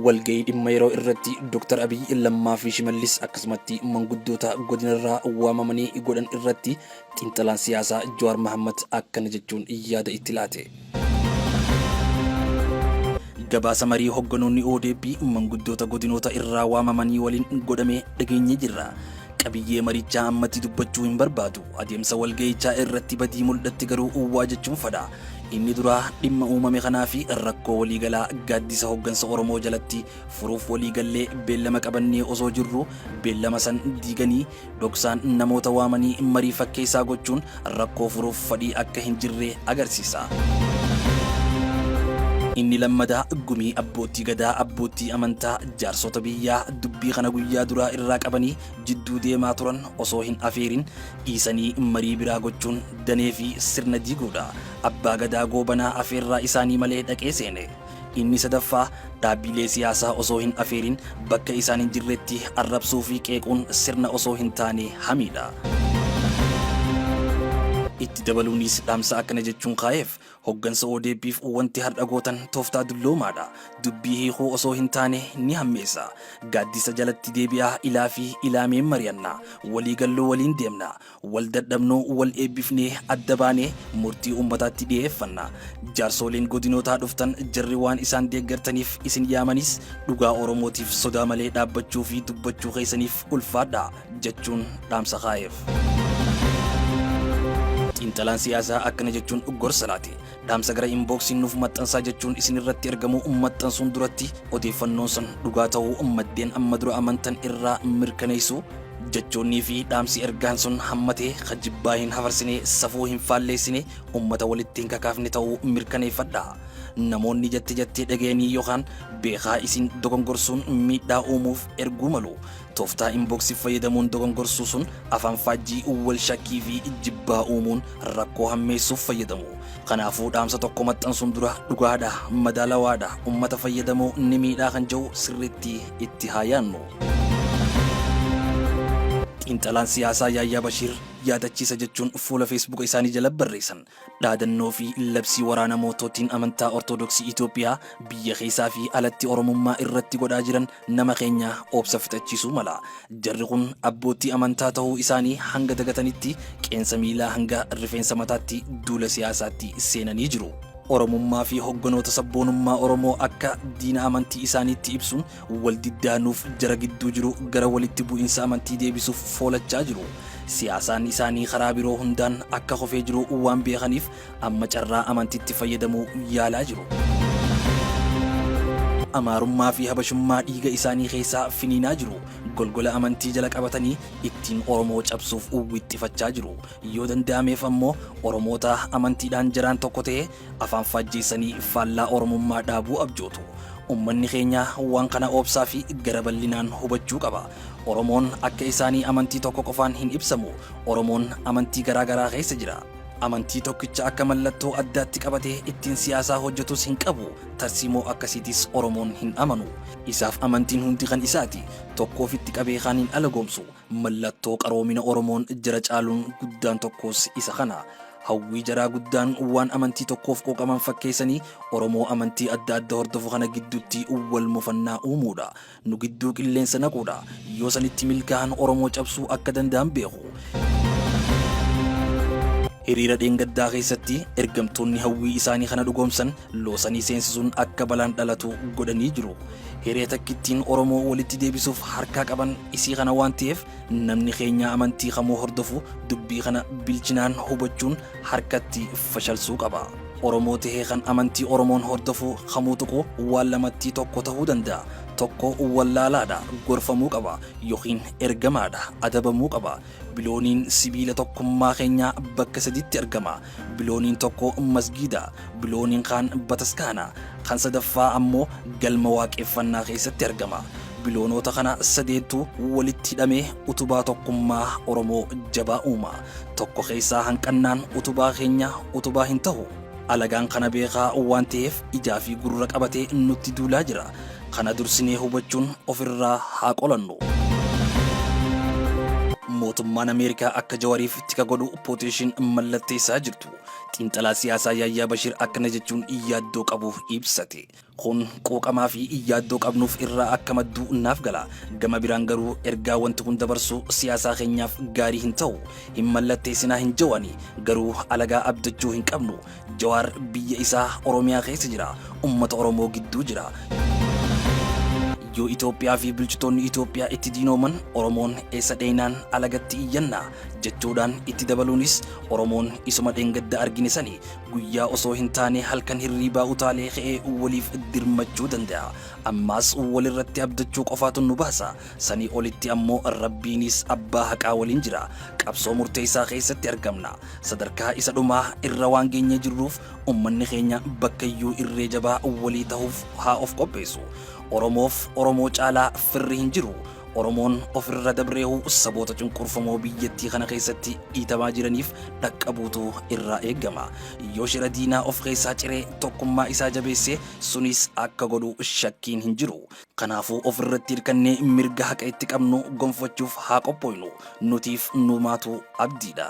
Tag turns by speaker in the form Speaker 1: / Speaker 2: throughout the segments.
Speaker 1: walga'ii dhimma yeroo irratti Dr. Abiy Lammaa fi Shimallis akkasumatti manguddoota godinarraa waamamanii godhan irratti xiinxalaan siyaasaa Jawaar Mahammad akkana jechuun yaada itti laate. Gabaasa marii hogganoonni ODP manguddoota godinoota irraa waamamanii waliin godhame dhageenye jirra. Qabiyyee marichaa ammatti dubbachuu hin barbaadu. Adeemsa walga'ichaa irratti badii mul'atti garuu uwwaa jechuun fadha. Inni duraa dhimma uumame kanaa fi rakkoo waliigalaa gaaddisa hoggansa Oromoo jalatti furuuf waliigallee beellama qabannee osoo jirru beellama san diiganii Dhoksaan namoota waamanii marii fakkeessaa gochuun rakkoo furuuf fadhii akka hin jirre agarsiisa. Inni lammadaa gumii abboottii gadaa, abboottii amantaa, jaarsota biyyaa dubbii kana guyyaa duraa irraa qabanii jidduu deemaa turan osoo hin afeerin dhiisanii marii biraa gochuun danee fi sirna diiguudha. Abbaa Gadaa Goobanaa afeerraa isaanii malee dhaqee seene. Inni sadaffaa, dhaabbiilee siyaasaa osoo hin afeerin bakka isaan hin jirretti arrabsuu fi qeequun sirna osoo hin taane hamiidha. Itti dabaluunis dhaamsa akkana jechuun kaa'eef, Hoggansa ODP'f wanti har'a gootan tooftaa dulloomaadha. Dubbii hiikuu osoo hin taane ni hammeessa. Gaaddisa jalatti deebi'aa ilaa fi ilaameen mari'anna. Walii gallu waliin deemna. Wal dadhabnuu wal eebbifnee adda baanee murtii uummataatti dhiyeeffanna. Jaarsooliin godinootaa dhuftan jarri waan isaan deeggartaniif isin yaamaniis dhugaa Oromootiif sodaa malee dhaabbachuu fi dubbachuu keessaniif ulfaadhaa jechuun dhaamsa kaa'eef. Xiinxalaan siyaasaa akkana jechuun gorsa laate. Dhaamsa gara inboksiin nuuf maxxansaa jechuun isin irratti ergamu maxxansuun duratti odeeffannoon san dhugaa ta'uu maddeen amma dura amantan irraa mirkaneessu. Jechoonnii fi dhaamsi ergaan sun hammatee ka jibbaa hin hafarsine, safuu hin faalleessine, ummata walitti hin kakaafne ta'uu mirkaneeffadha. Namoonni jette jettee dhagayanii yookaan beekaa isin dogongorsuun miidhaa uumuuf erguu malu. Tooftaa inbox fayyadamuun dogongorsuu sun afaan faajjii, wal shakkii fi jibbaa uumuun rakkoo hammeessuuf fayyadamu. Kanaafuu dhaamsa tokko maxxansuun dura dhugaadha, madaalawaadha, ummata fayyadamoo ni miidhaa kan jedhu sirriitti itti haa yaannu. Xiinxalaan siyaasaa Yaayyaa Bashiir yaadachiisa jechuun fuula Feesbuuka isaanii jala barreessan. Dhaadannoo fi labsii waraana mootootiin amantaa Ortodoksii Itoophiyaa biyya keessaa fi alatti Oromummaa irratti godhaa jiran nama keenya obsa fixachiisuu mala. Jarri kun abboottii amantaa tahuu isaanii hanga dagatanitti qeensa miilaa hanga rifeensa mataatti duula siyaasaatti seenanii jiru. Oromummaa fi hogganoota sabboonummaa Oromoo akka diina amantii isaaniitti ibsuun Waldiddaa nuuf jara gidduu jiru gara walitti bu'insa amantii deebisuuf foolachaa jiru. Siyaasaan isaanii karaa biroo hundaan akka kofee jiru waan beekaniif amma carraa amantitti fayyadamuu yaalaa jiru. Amaarummaa fi Habashummaa dhiiga isaanii keessaa finiinaa jiru. Golgola amantii jala qabatanii ittiin Oromoo cabsuuf wixxifachaa jiru. Yoo danda'ameef ammoo Oromoota amantiidhaan jaraan tokko ta'ee Afaan faajjeessanii faallaa Oromummaa dhaabuu abjootu. Ummanni keenya waan kana oobsaa fi gara bal'inaan hubachuu qaba. Oromoon akka isaanii amantii tokko qofaan hin ibsamu. Oromoon amantii garaa garaa keessa jira. Amantii tokkicha akka mallattoo addaatti qabatee ittiin siyaasaa hojjetus hin qabu. Tarsiimoo akkasiitis Oromoon hin amanu. Isaaf amantiin hundi kan isaati. Tokko ofitti qabee kaan hin alagoomsu. Mallattoo qaroomina Oromoon jira caaluun guddaan tokkoos isa kana. Hawwii jaraa guddaan waan amantii tokkoof quuqaman fakkeessanii Oromoo amantii adda adda hordofu kana gidduutti wal mufannaa uumuudha. Nu gidduu qilleensa naquudha. Yoo sanitti milkaahan Oromoo cabsuu akka danda'an beeku. Hiriira dheengaddaa keessatti ergamtoonni hawwii isaanii kana dhugoomsan loosanii seensisuun akka balaan dhalatu godhanii jiru. Hiree takkittiin Oromoo walitti deebisuuf harkaa qaban isii kana waan ta'eef Namni keenya amantii kamuu hordofu dubbii kana bilchinaan hubachuun harkatti fashalsuu qaba. Oromoo tahee kan amantii Oromoon hordofu kamuu tuqu waan lamattii tokko tahuu danda'a. Tokko wallaalaadha, gorfamuu qaba, yookiin ergamaadha, adabamuu qaba. Bilooniin sibiila tokkummaa keenyaa bakka sadiitti argama. Bilooniin tokko masgiida, bilooniin kaan bataskaana, kan sadaffaa ammoo galma waaqeffannaa keessatti argama. Biloonoota kana sadeentu walitti hidhamee utubaa tokkummaa Oromoo jabaa uuma. Tokko keessaa hanqannaan utubaa keenya utubaa hin tahu. Alagaan kana beekaa waan taheef ijaa fi gurra qabatee nutti duulaa jira. Kana dursinee hubachuun ofirraa haa qolannu. Mootummaan Ameerikaa akka Jawariif tika godhu pooteeshin mallatteessaa jirtu. Xiinxalaa siyaasaa Yaayyaa Bashir akkana jechuun yaaddoo qabu ibsate. Kun qooqamaa fi yaaddoo qabnuuf irraa akka maddu naaf gala. Gama biraan garuu ergaa wanti kun dabarsu siyaasaa keenyaaf gaarii hin ta'u. Hin mallatteessinaa hin jawani. Garuu alagaa abdachuu hin qabnu. Jawaar biyya isaa Oromiyaa keessa jira. Ummata Oromoo gidduu jira. Yoo Itoophiyaa fi bulchitoonni Itoophiyaa itti diinooman Oromoon eessa dheeynaan alagatti iyyanna jechuudhaan itti dabaluunis Oromoon isuma dheengadda argine sani guyyaa osoo hin taane halkan hirriibaa utaalee ka'ee waliif dirmachuu danda'a. Ammaas walirratti abdachuu qofaatu nu baasa. Sanii olitti ammoo Rabbiinis abbaa haqaa waliin jira. Qabsoo murteessaa keessatti argamna. Sadarkaa isa dhumaa irra waan geenyee jirruuf ummanni keenya bakkayyuu irree jabaa walii tahuuf haa of qopheessu. Oromoof Oromoo caalaa firri hin jiru. Oromoon ofirra dabreehu saboota cunqurfamoo biyyattii kana keessatti dhiitamaa jiraniif dhaqqabuutu irraa eegama. Yoo shira diinaa of keessaa ciree tokkummaa isaa jabeesse sunis akka godhu shakkiin hin jiru. Kanaafuu of irratti hirkannee mirga haqa itti qabnu gonfachuuf haa qophooynu. Nutiif numaatu abdiidha.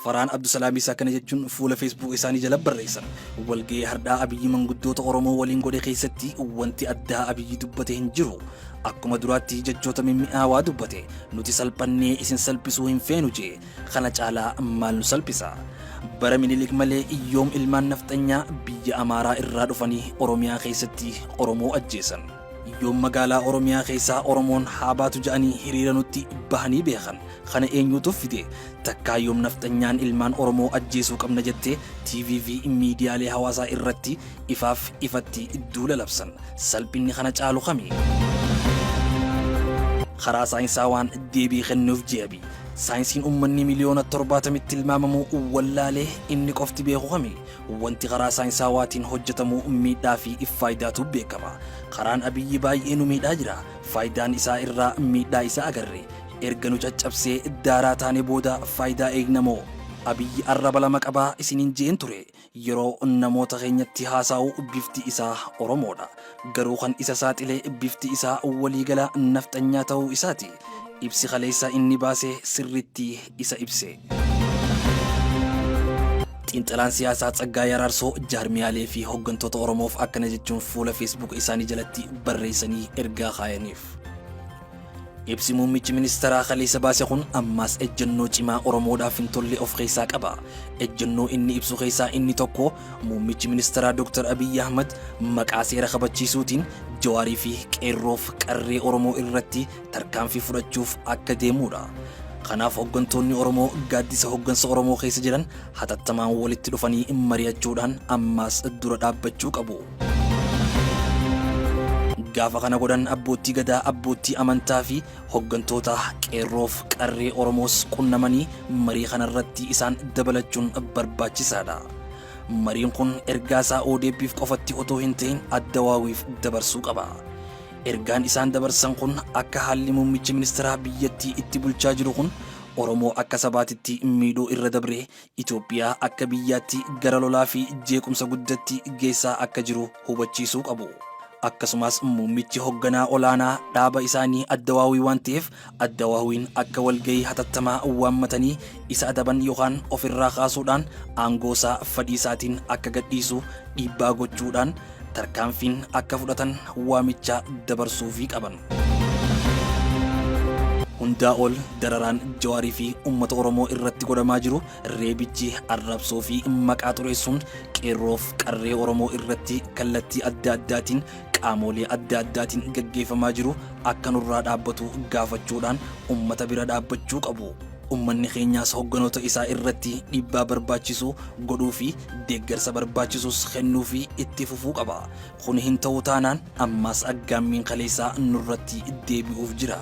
Speaker 1: Farhaan Abdusalaamii isaa kana jechuun fuula Facebook isaanii jala barreessan. Walga'ii hardhaa Abiyyi manguddoota Oromoo waliin godhe keessatti wanti addaa Abiyyi dubbate hin jiru. Akkuma duraatti jechoota mimmi'aawaa dubbate. Nuti salphannee isin salphisuu hin feenu jee. Kana caalaa maal nu salphisa? Bara Minilik malee yoom ilmaan nafxanyaa biyya Amaaraa irraa dhufanii Oromiyaa keessatti Oromoo ajjeesan? Yoom magaalaa Oromiyaa keessaa Oromoon haa baatu ja'anii hiriira nutti bahanii beekan? Kana eenyuutu fide? Takkaa yoom nafxanyaan ilmaan Oromoo ajjeesuu qabna jettee TV fi miidiyaalee hawaasaa irratti ifaaf ifatti duula labsan? Salphinni kana caalu kami? Karaa saayinsaawaan deebii kennuuf je'e Abiy. Saayinsiin ummanni miliyoona torbaatamitti tilmaamamu wallaalee inni qofti beeku kami? Wanti karaa saayinsaawaatiin hojjetamu miidhaa fi faayidaatu beekama. Karaan Abiyyi baay'ee nu miidhaa jira. Faayidaan isaa irraa miidhaa isaa agarre. Erga nu caccabsee daaraa taane booda faayidaa eegna moo? Abiyyi arraba lama qaba isiniin je'een ture. Yeroo namoota keenyatti haasaa'u bifti isaa Oromoodha. Garuu kan isa saaxile bifti isaa waliigala nafxanyaa ta'uu isaati. Ibsi kaleessa inni baase sirriitti isa ibse. Xiinxalaan siyaasaa Tsaggaayee Araarsoo jaarmiyaalee fi hooggantoota Oromoof akkana jechuun fuula Facebook isaanii jalatti barreessanii ergaa kaayaniif. Ibsi muummichi ministeeraa kaleessa baase kun ammaas ejjennoo cimaa Oromoodhaaf hin tolle of keessaa qaba. Ejjennoo inni ibsu keessaa inni tokko muummichi ministeeraa Dr. Abiyyi Ahmad maqaa seera kabachiisuutiin Jawaarii fi Qeerroof qarree Oromoo irratti tarkaanfii fudhachuuf akka deemuudha. Kanaaf hoggantoonni Oromoo gaaddisa hoggansa Oromoo keessa jiran hatattamaan walitti dhufanii mari'achuudhaan ammaas dura dhaabbachuu qabu. Gaafa kana godhan abboottii gadaa, abboottii amantaa fi hoggantoota qeerroof qarree Oromoos qunnamanii marii kana irratti isaan dabalachuun barbaachisaadha. Mariin kun ergaa isaa ODP'f qofatti otoo hin ta'in Addawaawiif dabarsuu qaba. Ergaan isaan dabarsan kun akka haalli muummichi ministeeraa biyyattii itti bulchaa jiru kun Oromoo akka sabaatitti miidhuu irra dabree Itoophiyaa akka biyyaatti gara lolaa fi jeequmsa guddatti geessaa akka jiru hubachiisuu qabu. Akkasumaas muummichi hogganaa olaanaa dhaaba isaanii Addawaawii waan ta'eef Addawaawiin akka walgahii hatattamaa waammatanii isa adaban yookaan ofirraa kaasuudhaan aangoosaa fadhiisaatiin akka gadhiisu dhiibbaa gochuudhaan tarkaanfiin akka fudhatan waamicha dabarsuufii qaban. Hundaa ol dararaan Jawaarii fi uummata Oromoo irratti godhamaa jiru reebichi arrabsoo fi maqaa xureessuun qeerroof qarree Oromoo irratti kallattii adda addaatiin qaamoolee adda addaatiin gaggeeffamaa jiru akka nurraa dhaabbatu gaafachuudhaan uummata bira dhaabbachuu qabu. Ummanni keenyaas hogganoota isaa irratti dhiibbaa barbaachisu godhuu fi deeggarsa barbaachisus kennuufii itti fufuu qaba. Kuni hin ta'u taanaan ammaas aggaammiin kaleessaa nurratti deebi'uuf jira.